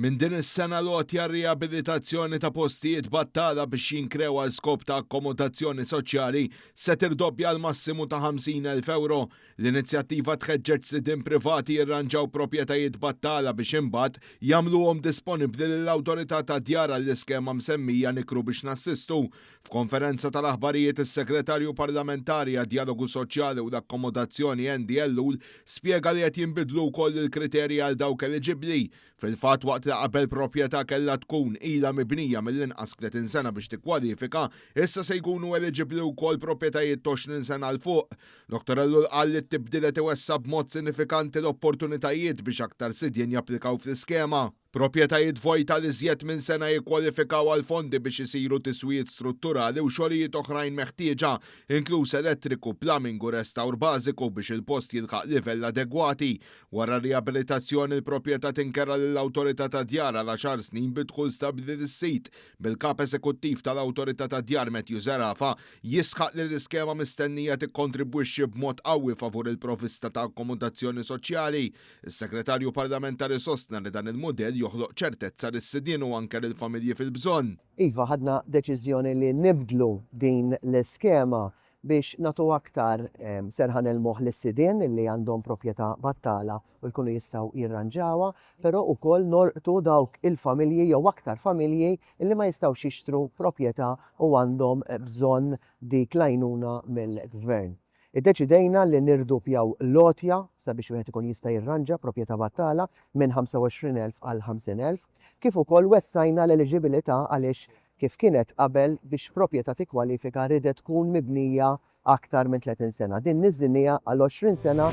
Minn din is-sena l-għotja r-riabilitazzjoni ta' postijiet battala biex jinkrew għal skop ta' akkomodazzjoni soċjali se tirdoppja għal massimu ta' 50,000 ewro. L-inizjattiva tħeġġeġ sidien privati jirranġaw propjetajiet battala biex imbagħad jagħmluhom disponibbli lill-Awtorità tad-Djar għall-iskema msemmija Nikru biex Nassistu. F'konferenza tal-aħbarijiet is-Segretarju Parlamentari għad-Djalogu Soċjali u l-Akkomodazzjoni Andy Ellul spjega li qed jinbidlu wkoll il-kriterji għal dawk eliġibbli. Fil-fatt waqt li qabel proprjetà kellha tkun ilha mibnija mill-inqas 30 sena biex tikkwalifika, issa se jkunu eliġibbli wkoll proprjetajiet t'għoxrin sena 'l fuq. Dottor Ellul qal li t-tibdil qed iwessa' b'mod sinifikanti l-opportunitajiet biex aktar sidien japplikaw fl-iskema. Proprjetajiet vojt għal iżjed minn sena jikkwalifikaw għal fondi biex isiru tiswijiet strutturali u xogħlijiet oħrajn meħtieġa, inkluż elettriku, plumbing u restawr bażiku biex il-post jilħaq livell adegwati. Wara r-riabilitazzjoni, il-proprjetà tinkerha lill-Awtorità tad-Djar għal għaxar snin bid-dħul stabbli lis-sid, bil-Kap Eżekuttiv tal-Awtorità tad-Djar Matthew Zerafa jisħaq li l-iskema mistennija tikkontribwixxi b'mod qawwi favur il-provvista ta' akkomodazzjoni soċjali Is-Segretarju Parlamentari sostna li dan il-mudell joħloq ċertezza lis-sidien u anke lill-familji fil-bżonn. Iva, ħadna deċiżjoni li nibdlu din l-iskema biex nagħtu aktar serħan il-moħħ lis-sidien li għandhom proprjetà battala u jkunu jistgħu jirranġawha, però wkoll nolqtu dawk il-familji jew aktar familji li ma jistgħux jixtru proprjetà u għandhom bżonn dik l-għajnuna mill-Gvern. Iddeċidejna li nirdupjaw l-għotja sabiex wieħed ikun jista' jirranġa proprjetà battala minn 25,000 għal 50,000, kif ukoll wessajna l-eliġibilità għaliex kif kienet qabel biex proprjetà tikkwalifika ridet tkun mibnija aktar minn 30 sena. Din niżżilniha għal 20 sena.